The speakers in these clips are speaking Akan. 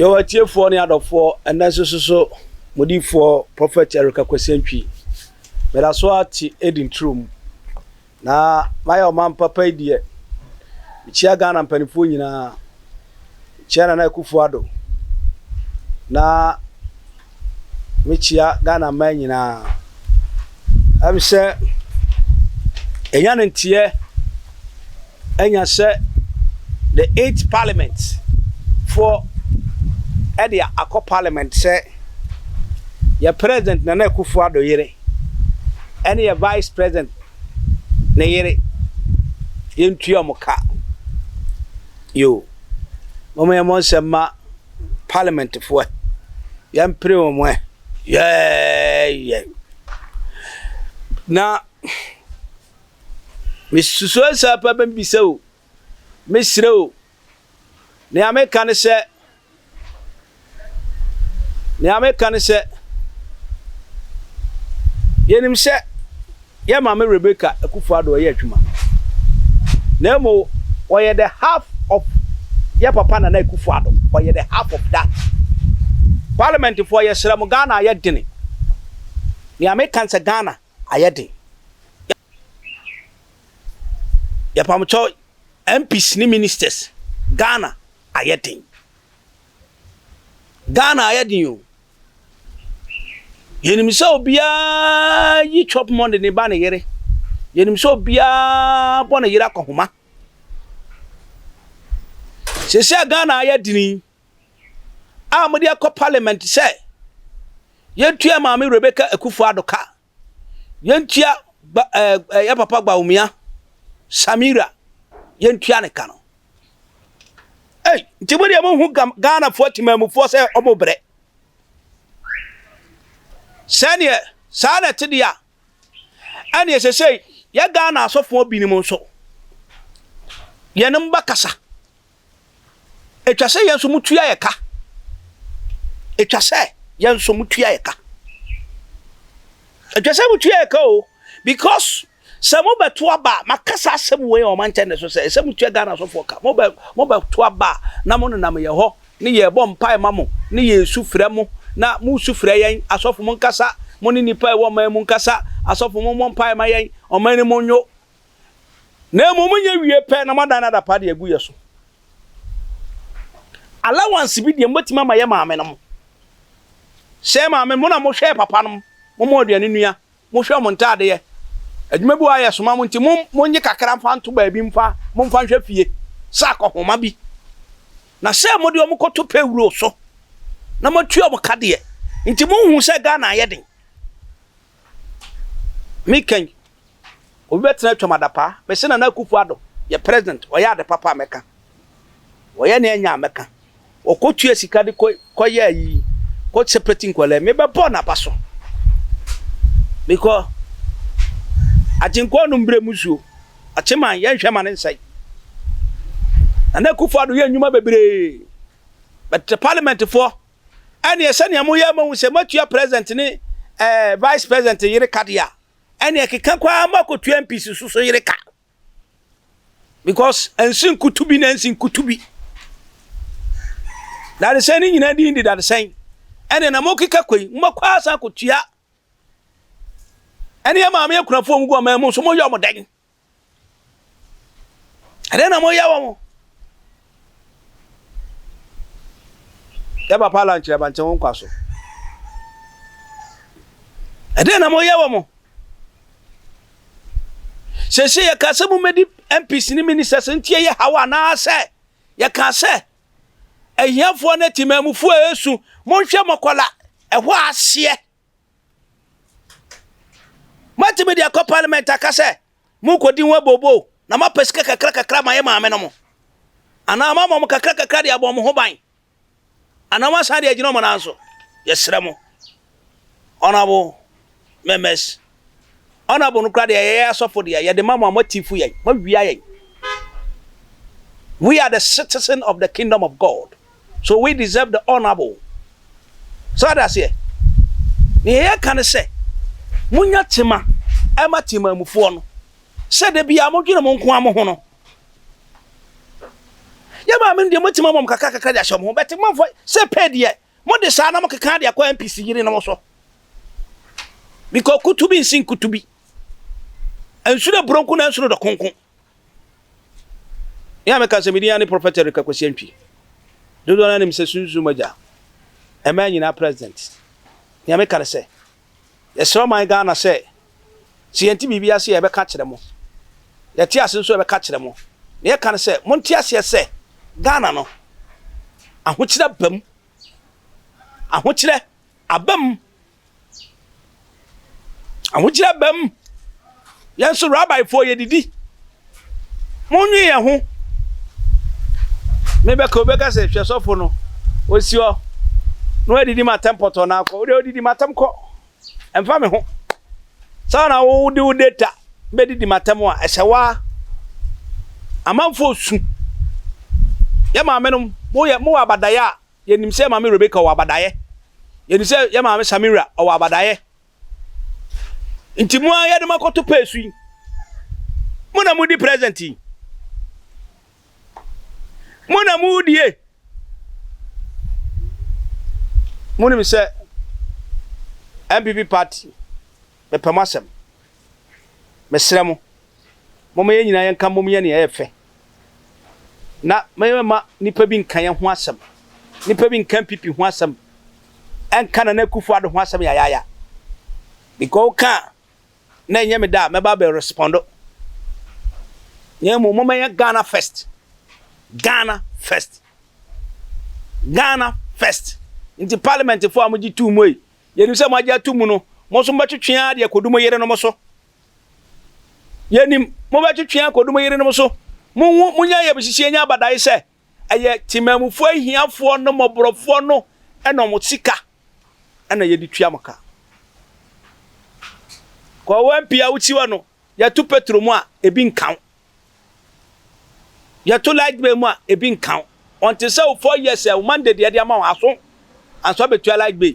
yɛwɔ atiefoɔ ne adɔfoɔ ɛnɛ nso soso modifoɔ prɔfɛt erika kwasantwi meda so ate edi nturom Na mayɛ ɔman papa yi deɛ. Mekyia Ghana mpaninfoɔ nyinaa. Mekyia Nana Akufo Addo. Na mekyia Ghana mmaa nyinaa. Ɛm sɛ ɛnya ne nteɛ ɛnya sɛ the eight parliament foɔ ɛde akɔ parliament sɛ yɛ president Nana Akufo Addo yere ɛne yɛ vice president ne yere, yɛntua wɔn ka. Yoo, moma yɛmmɔ nsɛm mma parliament foɔ ɛ, yɛmpere wɔn ɛ. Yɛɛyɛ. Na mesusuo saa paa bɛbisa o, mesrɛ o. Nea meka ne sɛ, nea meka ne sɛ, yenim sɛ yɛn maame Rebecca Akufo-Addo yɛ adwuma, na mmom ɔyɛ the half of yɛn papa Nana Akufo-Addo, ɔyɛ the half of that. Parliamentfoɔ, yɛsrɛ mo, Ghana ayɛ dene. Nea meka ne sɛ, Ghana ayɛ den. Yɛpamokyɛw MPs ne ministers Ghana ayɛ den Ghana ayɛ den o Yɛnim sɛ obiara yi chop money ne ba ne yere Yɛnim sɛ obiara bɔ ne yere akɔhoma Seesei a Ghana ayɛ den yi a wɔde akɔ parliament sɛ yɛntua Maame Rebecca Akuffo-Addo ka Yɛntua ba ɛɛ eh, yɛ papa Bawumia Samira yɛntua ne ka no. Ei, nti mo deɛ mo hu Ghanafoɔ timamufoɔ sɛ ɔmo brɛ. Sɛdeɛ saa na ɛte deɛ a, ɛneɛ sɛ sɛ yɛ Ghana asɔfoɔ binom nso, yɛne mo bɛkasa. Ɛtwa sɛ yɛn nso motua yɛ ka. Ɛtwa sɛ yɛn nso motua yɛ ka. Ɛtwa sɛ motua yɛ ka o because sɛ mobɛto aba a makasa asɛm wei a ɔma nkyɛn ne so sɛ ɛsɛ motua Ghana sofoɔ ka. Mobɛ mobɛto aba a na mo nenam yɛ hɔ ne yɛbɔ mpae ma mo ne yɛsu frɛ mo na mosu frɛ yɛn asɔfo monkasa mo ne nnipa ɛwɔ ɔman mu nkasa asɔfo mommɔ mpae ma yɛn ɔman no mu nwo na mmom yɛ wie pɛ na moadan no adapaa de agu yɛ so. Allowance bi deɛ mobɛtumi ama yɛ maame nom. Sɛ maame mo na mohwɛ papa nom, momɔ aduane nua, mohwɛ mo ntaadeɛ. Adwuma bi wɔ ayɛ soma mo nti monye kakra mfa nto baabi mfa momfa nhwɛ fie sɛ akɔhoma bi. Na sɛ mode wɔn kɔto payroll so na moatua wɔn ka deɛ nti monhu sɛ Ghana ayɛ den. Me kɛn obi bɛtena atwam adapaa mese nana akufo ado yɛ president ɔyɛ ade papa a mɛka ɔyɛ ne ɛnyɛ a mɛka ɔkɔ tua sika de kɔ kɔ yɛ ayi kɔ separate nkwalaa me bɛbɔ n'aba so mekɔ agyenkɔɔ no mbrɛ mu zuo akyeman yɛ nhwɛ ma ne nsɛe nana akufo ado yɛ nnwuma bebree bɛtɛ parliament foɔ ɛneɛ sɛnea moyɛ ama hu sɛ moatua president ne eh, vice president yere ka deɛ a ɛneɛ keka koraa ma kɔtua MPs so so yere ka because ɛnsi nkutu bi na ɛnsi nkutu bi dadesɛn ne nyinaa din de dadesɛn ɛneɛ na mokeka kɔi mobɛkɔ asan kɔtua ɛneɛ maame akunafoɔ mu gu ɔman mu nso moyɛ ɔmo dɛn Ɛdɛn na moyɛ wɔn? Yɛ papa la nkyerɛ bante wo nkwa so. Ɛdɛn na moyɛ wɔn? Sese yɛka sɛ mommɛdi MPs ne ministers ntie yɛ haw anaasɛ yɛka sɛ ahiafoɔ ne temanmufoɔ a ɛsu monhwɛ mɔkɔla ɛhɔ aseɛ. Moatumi de akɔ parliament aka sɛ morekɔdi ho abooboo na moapɛ sika kakra kakra ma yɛ maame no mo. Anaa moama wɔn kakra kakra de abɔ wɔn ho ban. Anaa moasan de agyina wɔn nan so. Yɛsrɛ mo. Honorable members. Honorable no koraa deɛ ɛyɛ yɛ asɔfo deɛ yɛde ma mo a moatifu yɛn. Moawia yɛn. We are the citizen of the kingdom of God. So we deserve the honourable? So ade aseɛ? Nea yɛka ne sɛ, monya tema ɛma temaamufoɔ no sɛ da biara modwene mo nko ara mo ho no. Yɛ maame no deɛ motumi ama mo kakra kakra de ahyɛ mo ho bɛte mɔmfɔ sɛ pɛ deɛ mode saa na mokeka de akɔ MPC yere no mo so. Because kutu bi nsi nkutu bi. Nsu dɛ buronko na nsu dɔ konko. Me a meka sɛ me din ara ne Prɔfɛt Erika Kwasi Antwi. Dodoɔ no ara nim sɛ Sunsum Agya, mmaa nyinaa president. Nea meka ne sɛ, yɛsrɛ ɔman Ghana sɛ, sɛ yɛnte biribi ase a yɛbɛka akyerɛ mo, yɛte ase nso a yɛbɛka akyerɛ mo. Nea yɛka ne sɛ, monte aseɛ sɛ Ghana no, ahokyerɛ aba mu. Ahokyerɛ aba mu Ahokyere aba mu. Yɛn nso rabaefoɔ yɛdidi. Monnwe yɛn ho. Mebɛka obi ka sɛ hwɛ sɔfo no osi hɔ na wadidi ma atɛm pɔtɔ na akɔ. Wode odidi ma atɛm kɔ. Ɛmfa me ho. Saa na wode wo data bɛdidi ma atɛm a ɛhyɛ waa. Amanfoɔ su. Yɛ maamenom moyɛ mowɔ abadaeɛ a Yɛnim sɛ Maame Rebecca ɔwɔ abadaeɛ. Yɛnim sɛ yɛ Maame Samira ɔwɔ abadaeɛ. Nti mo ara yɛde mo akɔto peesu yi. Mo na modi present yi. Mo na modie. Monim sɛ MPP party mepɛ mo asɛm. Mesrɛ mo, momma yɛn nyinaa yɛnka mmom yɛ nea ɛyɛ fɛ. na mɛma nnipa bi nka yɛn ho asɛm. Nnipa bi nka npp ho asɛm, ɛnka Nana Akufo-Addo ho asɛm yayaaya. Because woka a, na ɛnyɛ me da a mɛba abɛ respond. Na mmom mommɛyɛ Ghana first. Ghana first. Ghana first. Nti parliament fo a mogye too mu yi, yɛnim sɛ moagye ato mu no, mo nso mobɛtwetwe ara de akɔdu mo yerenom so. Yɛnim, mobɛtwetwe akɔdu mo yerenom so. Monhu, monyɛ ayamhyehyeɛ nyɛ abadae sɛ ɛyɛ temanmufoɔ ahiafoɔ no, mmɔborɔfoɔ no na wɔn sika na yɛde tua mo ka. Kɔwɛn pii a wotiwa no, yɛto petro mu a, ebi nka wo. Yɛto light bill mu a, ebi nka wo. Ɔnte sɛ wo four years a wo Monday deɛ de ama wo, aso anso abɛtua light bill.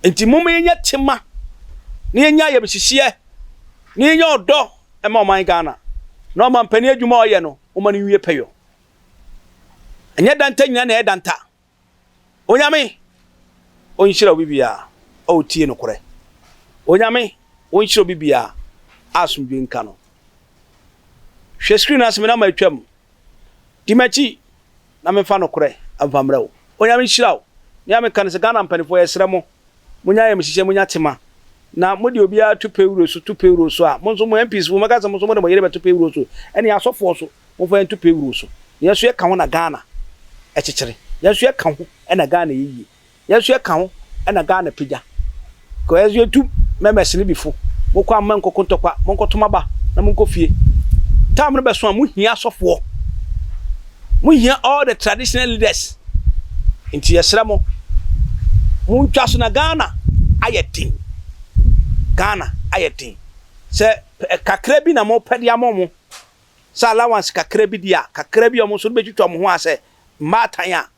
Nti momma yɛnya tema na yɛnya ayamhyehyeɛ na yɛnya ɔdɔ ma ɔman Ghana na ɔmampanin adwuma a ɔyɛ no, momma no nwie pɛyɔ. Ɛnyɛ danta nyina na ɛyɛ danta. Onyame onhyira obi bia a otie nokorɛ. Onyame onhyira obi bia a asomdwoe nka no. Hwɛ screen no ase me na matwam. Di m'akyi na memfa nokorɛ mfa mmerɛ wo. Onyame nhyira wo. Me a meka no sɛ Ghana mpanifoɔ yɛsrɛ mo monya ayamhyehyeɛ monya tema na mode obiara to pawuro so to payroll so a mo nso mo MPs mo bɛka sɛ mo nso mode mo yere bɛto payroll so ɛne asɔfoɔ so. momfa yɛnto pay roll so yɛn nso yɛka ho na Ghana ɛkyekyere yɛn nso yɛka ho na Ghana yɛ yie yɛn nso yɛka ho na Ghana pagya kɔ yɛn nso yɛtu mɛmɛs no bifo mokɔ a monkɔko ntɔkwa monkɔtom aba na monkɔ fie time no bɛso a mohia asɔfoɔ mohia all the traditional leaders nti yɛsrɛ mo montwa so na Ghana ayɛ den Ghana ayɛ den sɛ kakra bi na mopɛ de ama mo sɛ allowance kakra bi deɛ a, kakra bi a wɔn nso de bɛtwitwa wɔn ho a sɛ mmaatan a,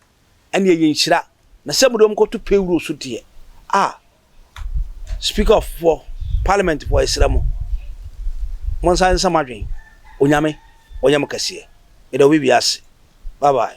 ɛnneɛ ɛyɛ nhyira. Na sɛ mode wɔn kɔto payroll so deɛ, ah, Speaker foɔ, Parliament foɔ, yɛsrɛ mo, monsan nsa mo adwene. Onyame, ɔnyɛ mo kɛseɛ. Meda obi bia ase. Bye bye.